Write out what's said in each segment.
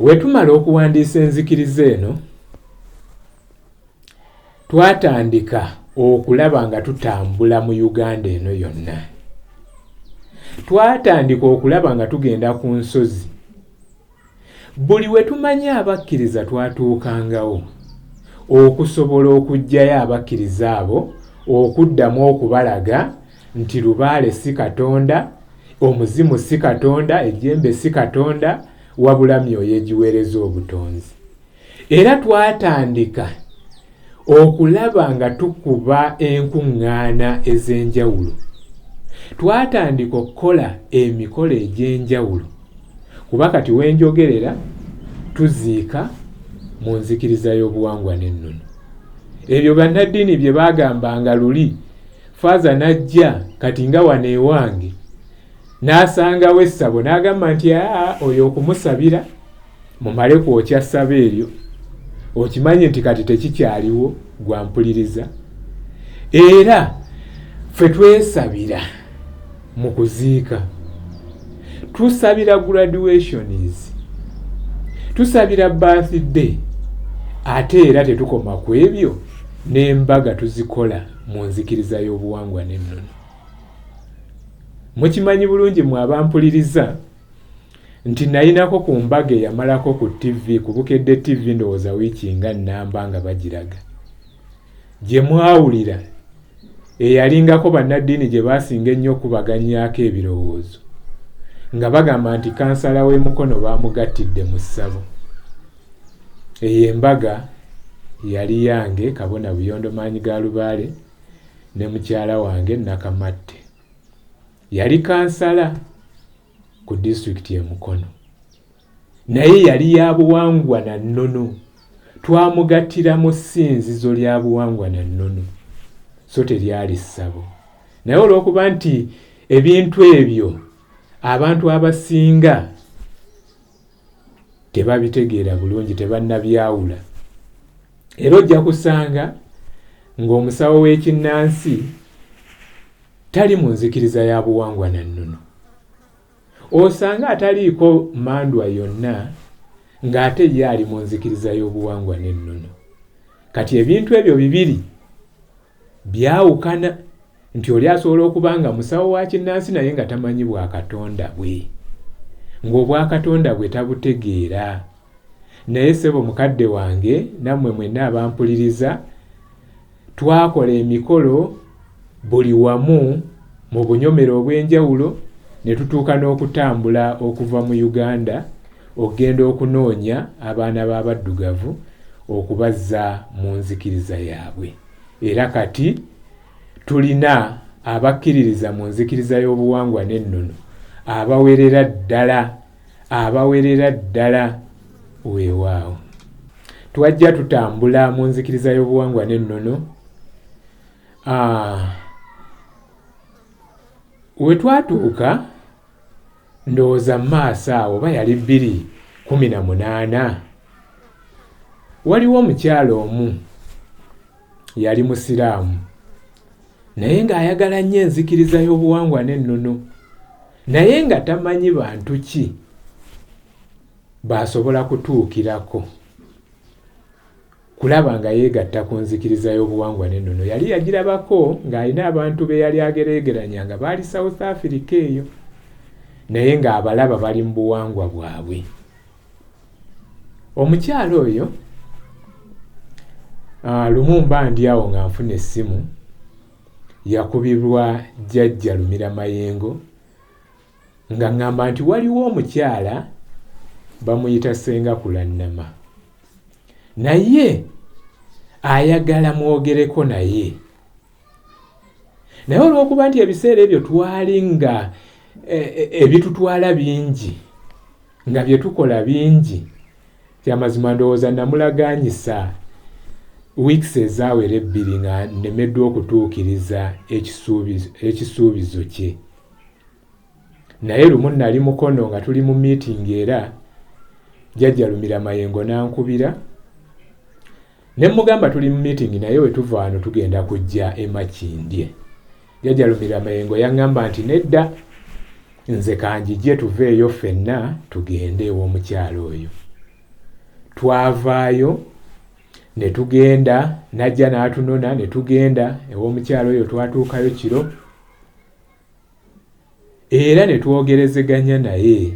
Wetumala okuwandiisa enzikiriza eno, twatandika okulaba nga tutambula mu Uganda eno yonna. Twatandika okulaba nga tugenda ku nsozi. Buli we tumanyi abakkiriza twatuukangawo okusobola okuggyayo abakkiriza abo okuddamu okubalaga nti lubaale si katonda omuzimu si katonda ejjembe si katonda wabula myoyo egiweereza obutonzi era twatandika okulaba nga tukuba enkuŋŋaana ez'enjawulo twatandika okukola emikolo egy'enjawulo kuba kati wenjogerera tuziika mu nzikiriza y'obuwangwa n'ennono ebyo bannaddiini bye baagambanga luli faaza n'ajja kati nga wano ewange n'asangawo essabo n'agamba nti aa oyo okumusabira mumale kwokya ssabo eryo okimanyi nti kati tekikyaliwo gwampuliriza era ffe twesabira mu kuziika tusabira graduations tusabira birthday ate era tetukoma ku ebyo n'embaga tuzikola mu nzikiriza y'obuwangwa n'ennono mukimanyi bulungi mwe abampuliriza nti nayinako ku mbaga eyamalako ku tv ku bukedde tv ndowooza wiiki nga nnamba nga bagiraga gye mwawulira eyalingako bannaddiini gye baasinga ennyo okubaganyaako ebirowoozo nga bagamba nti kansala w'emukono baamugattidde mu ssabo Eyo embaga yali yange kabona buyondo maanyi ga lubaale ne mukyala wange Nakamatte. Yali kansala ku disitulikiti e Mukono. Naye yali ya buwangwa na nnono. Twamugattira mu ssinzizo lya buwangwa na nnono, so teryali ssabo. Naye olw'okuba nti ebintu ebyo abantu abasinga tebabitegeera bulungi tebannabyawula era ojja kusanga ng'omusawo w'ekinnansi tali mu nzikiriza ya buwangwa na nnono osanga ataliiko mandwa yonna ng'ate ye ali mu nzikiriza y'obuwangwa n'ennono kati ebintu ebyo bibiri Byawukana nti oli asobola okuba nga musawo wa kinnansi naye nga tamanyi bwa Katonda bwe, ng'obwa Katonda bwe tabutegeera. Naye ssebo mukadde wange nammwe mwenna abampuliriza, twakola emikolo buli wamu. mu bunyomero obw'enjawulo ne tutuuka n'okutambula okuva mu Uganda okugenda okunoonya abaana b'abaddugavu okubazza mu nzikiriza yaabwe era kati tulina abakkiririza mu nzikiriza y'obuwangwa n'ennono abawerera ddala abawerera ddala weewaawo twajja tutambula mu nzikiriza y'obuwangwa n'ennono we twatuuka ndowooza mu maaso awo oba yali bbiri kumi na munaana waliwo omukyala omu yali musiraamu naye ng'ayagala nnyo enzikiriza y'obuwangwa n'ennono naye nga tamanyi bantu ki baasobola kutuukirako kulaba nga yeegatta ku nzikiriza y'obuwangwa n'ennono yali yagirabako ng'alina abantu be yali agereegeranya nga baali south africa eyo naye ng'abalaba bali mu buwangwa bwabwe omukyala oyo ah, lumu mba ndi awo nga nfuna essimu yakubibwa jjajja lumira mayengo Nga ngamba nti waliwo omukyala bamuyita senga kulannama naye ayagala mwogereko naye naye olwokuba nti ebiseera ebyo twali nga e, e, ebitutwala bingi nga byetukola bingi kyamazima ndowooza namulaganyisa weeks ezawera ebbiri nga nemeddwa okutuukiriza ekisuubizo kye naye lumu nali mukono nga tuli mu meeting era jajja lumira mayengo nankubira ne mugamba tuli mu meeting naye wetuva wano tugenda kujja emakindye jajja lumira mayengo yaŋŋamba nti nedda nze kanjije tuveeyo ffenna tugende ew'omukyalo oyo twavaayo ne tugenda najja n'atunona ne tugenda ew'omukyalo oyo twatuukayo kiro era ne twogerezeganya naye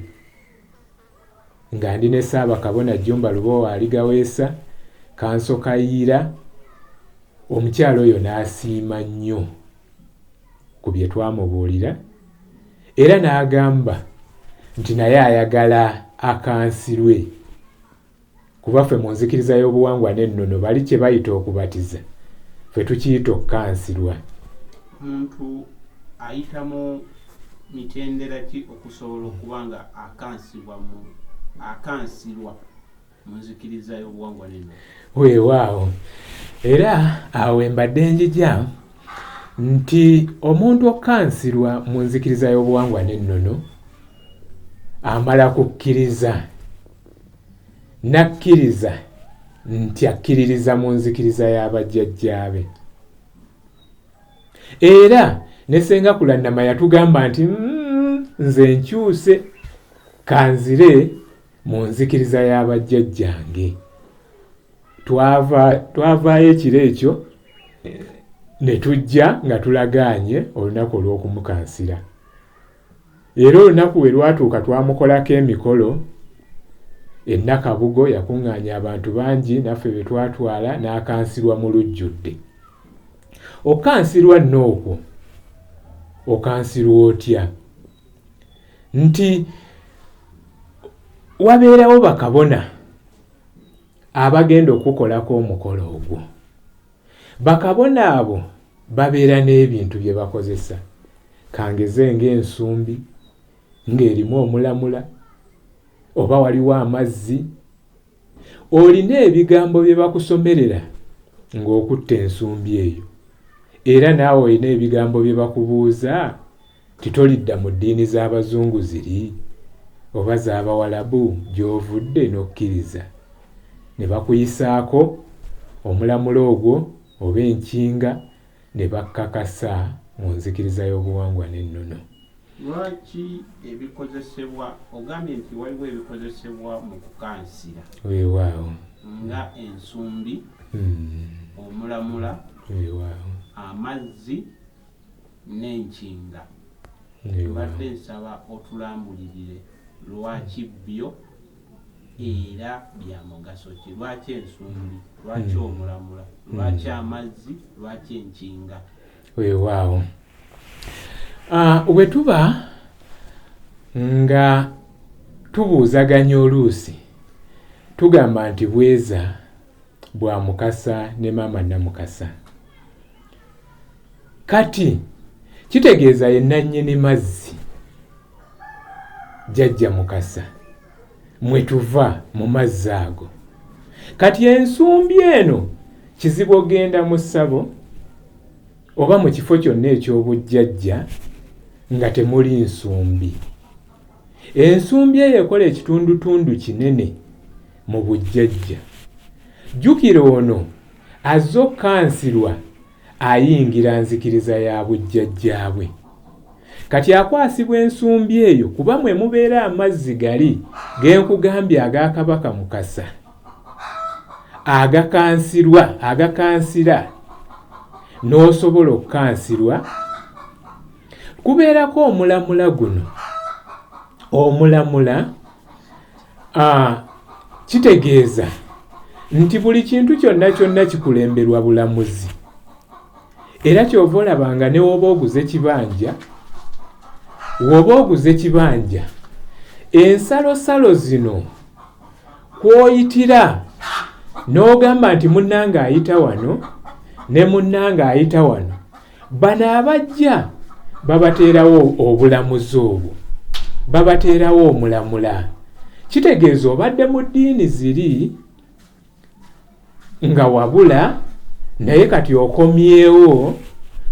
nga ndi ne Ssaabakabona Jjumba Lubowa Aligaweesa kanso kayiira omukyala oyo n'asiima nnyo ku bye twamubuulira era n'agamba nti naye ayagala akansirwe Kuba ffe mu nzikiriza y'obuwangwa n'ennono bali kye bayita okubatiza ffe tukiyita okukansirwa. Muntu ayita mu mitendera ki okusobola okuba nga akansibwa mu akansirwa mu nzikiriza y'obuwangwa n'ennono? Weewaawo era awo embadde njija nti omuntu okukansirwa mu nzikiriza y'obuwangwa n'ennono amala kukkiriza N'akkiriza nti akkiririza mu nzikiriza ya bajjajjaabe. Era ne ssenga Kulannama yatugamba nti mm, nze nkyuse kanzire mu nzikiriza ya bajjajjange. Twavaayo ekiro ekyo ne tujja nga tulagaanye olunaku olw'okumukansira. Era olunaku we lwatuuka twamukolako emikolo e Nakabugo yakuŋŋaanya abantu bangi naffe be twatwala n'akansirwa mu lujjudde. Okukansirwa nno okwo okansirwa otya? Nti wabeerawo bakabona abagenda okukukolako omukolo ogwo. Bakabona abo babeera n'ebintu bye bakozesa kangeze ng'ensumbi ng'erimu omulamula oba waliwo amazzi olina ebigambo bye bakusomerera ng'okutta ensumbi eyo era naawe olina ebigambo bye bakubuuza Nti tolidda mu ddiini z'Abazungu ziri oba z'Abawalabu gy'ovudde n'okkiriza, ne bakuyisaako omulamula ogwo oba enkinga ne bakkakasa mu nzikiriza y'obuwangwa n'ennono. Lwaki ebikozesebwa, ogambye nti waliwo ebikozesebwa mu kukansira. Weewaawo. Nga ensumbi, omulamula, amazzi. nenkinga mbadde nsaba otulambulirire lwaki byo era byamugaso ki lwaki ensumbi lwaki hmm. omulamula lwaki hmm. amazzi lwaki enkinga wewaawo ah, wetuba nga tubuuzaganya oluusi tugamba nti bweza bwa mukasa ne maama namukasa kati kitegeeza ye nannyini mazzi jajja mukasa mwe tuva mu mazzi ago kati ensumbi eno kizibu ogenda mu ssabo oba mu kifo kyonna eky'obujjajja nga temuli nsumbi ensumbi eyo ekola ekitundutundu kinene mu bujjajja jjukira ono Azze okukansirwa ayingira nzikiriza ya bujjajjaabwe. Kati akwasibwa ensumbi eyo kuba mwe mubeera amazzi gali ge nkugambye aga Kabaka Mukasa agakansirwa agakansira n'osobola okukansirwa kubeerako omulamula guno omulamula Ah, kitegeeza nti buli kintu kyonna kyonna kikulemberwa bulamuzi era kyova olaba nga newoba oguze kibanja woba oguze kibanja ensalosalo zino kwoyitira n'ogamba nti munnanga ayita wano ne munnanga ayita wano bano abajja babateerawo obulamuzi obwo babateerawo omulamula kitegeeza obadde mu ddiini ziri nga wabula naye kati okomyewo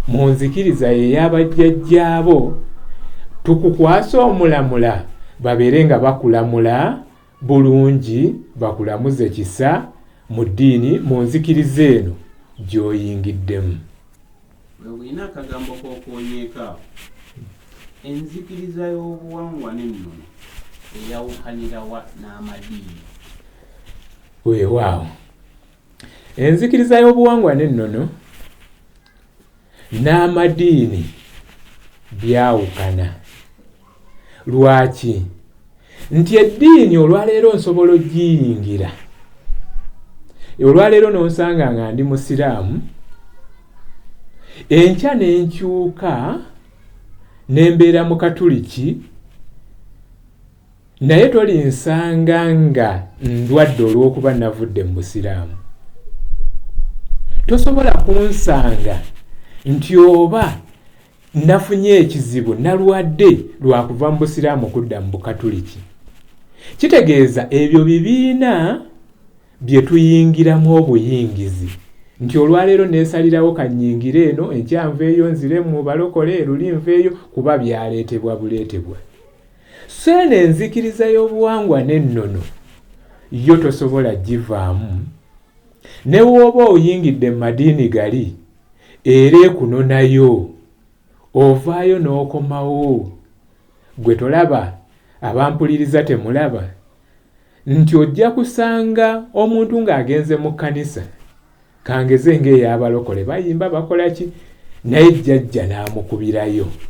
mu nzikiriza yeyabajjajjaabo tukukwasa omulamula babeere nga bakulamula bulungi bakulamuze kisa mu ddiini mu nzikiriza eno gy'oyingiddemu. Webulina akagambo k'okoonyeeko awo. Enzikiriza y'obuwangwa n'ennono eyawukanira wa n'amadiini? Weewaawo. Enzikiriza y'obuwangwa n'ennono n'amadiini byawukana. Lwaki? Nti eddiini olwaleero nsobola ogiyingira olwaleero n'onsanga nga ndi musiraamu enkya n'enkyuka ne mbeera mu katuliki Naye tolinsanga nga ndwadde olw'okuba navudde mu busiraamu. Tosobola kunsanga nti oba nafunye ekizibu nalwadde lwakuva mu busiraamu kudda mu bukatuliki. Kitegeeza ebyo bibiina bye tuyingiramu obuyingizi nti olwaleero neesalirawo kannyingire eno enkyanvu eyo nzire mu balokole eruli nveeyo kuba byaleetebwa buleetebwa. So eno enzikiriza y'obuwangwa n'ennono yo tosobola givaamu ne wooba oyingidde mu madiini gali era ekunonayo ovaayo n'okomawo gwe tolaba abampuliriza temulaba nti ojja kusanga omuntu ng'agenze mu kkanisa kangeze ng'ey'abalokole bayimba bakola ki naye jjajja n'amukubirayo